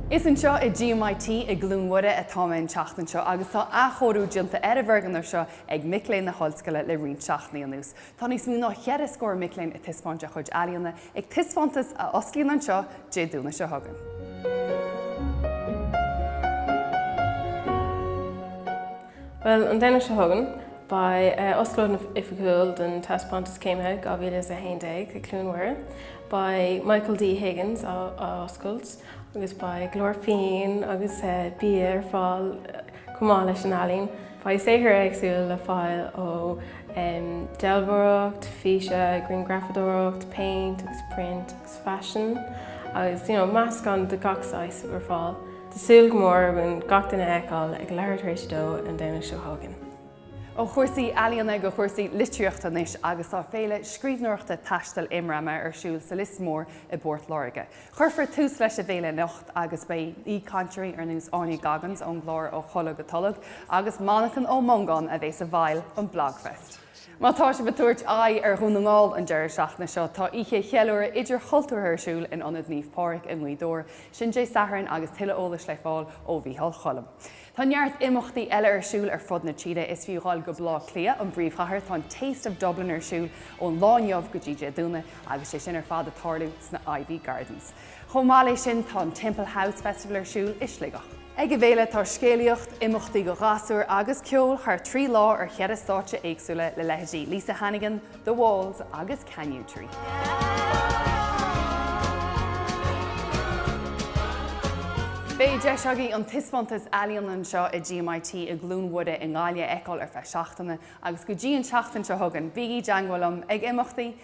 Is anseo i GMIT i gCluain Mhuire atá mé an tseachtain seo agus tá athchóiriú déanta ar an bhfoirgneamh seo ag mic léinn na hOllscoile le roinnt seachtainí anuas. Tá níos mó ná cheithre scór mic léinn ag taispeáint a gcuid ealaíona ag taispeántas a osclaíonn anseo Dé Domhnaigh seo chugainn. Bhuel, an Domhnach seo chugainn, beidh oscailt oifigiúil don taispeántas Céimithe 2011 ag Cluain Mhuire. beidh Michael D. Higgins á oscailt agus beidh go leor fíon agus bia ar fáil chomh maith leis an ealaín. Beidh saothar éagsúil le fáil ó dealbhóireacht, físe, grianghrafadóireacht, péint agus priontaí agus faisean agus, you know, meascán de gach saghas ar fáil. Tá súil go mór againn gach duine a fheiceáil ag leathuair tar éis a dó an Domhnach seo chugainn. Ó chúrsaí ealaíona go cúrsaí litríochta anois agus tá Féile Scríbhneoireachta Taistil Immrama ar siúl sa Lios Mór i bPort Láirge. Cuirfear tús leis an bhféile anocht agus beidh aoichainteoirí ar nós Áine Goggins ón gclár Ó Tholg go Tolg agus Manchán Ó Mongáin a bheidh i bhfeighil an Blogfest. Má tá sibh ag tabhairt aghaidh ar Dhún na nGall an deireadh seachtaine seo, tá oíche cheiliúrtha idirchultúrtha ar siúl in Ionad Naomh Pádraig i nGaoth Dobhair. Sin Dé Sathairn agus tuilleadh eolais le fáil ó Mhícheál Choilm. Tá neart imeachtaí eile ar siúl ar fud na tíre. Is fiú a ghabháil go Baile Átha Cliath, an bpríomhchathair. Tá an Taste of Dublin ar siúl ón lá inniu go dtí Dé Domhnaigh agus sé sin ar fad ag tarlú sna Iveagh Gardens. Chomh maith leis sin, tá an Temple House Festival ar siúl i Sligeach. Ag an bhféile, tá scéalaíocht, imeachtaí do ghasúir agus ceol thar trí lá ar cheithre stáitse éagsúla le leithéidí Lisa Hannigan, The Walls agus Kanyu Tree. Beidh deis agaibh an taispeántas ealaíona anseo i GMIT i gCluain Mhuire i nGaillimh a fheiceáil ar feadh seachtaine agus go dtí an tseachtain seo chugainn, bígí i dteagmháil liom ag imeachtaí!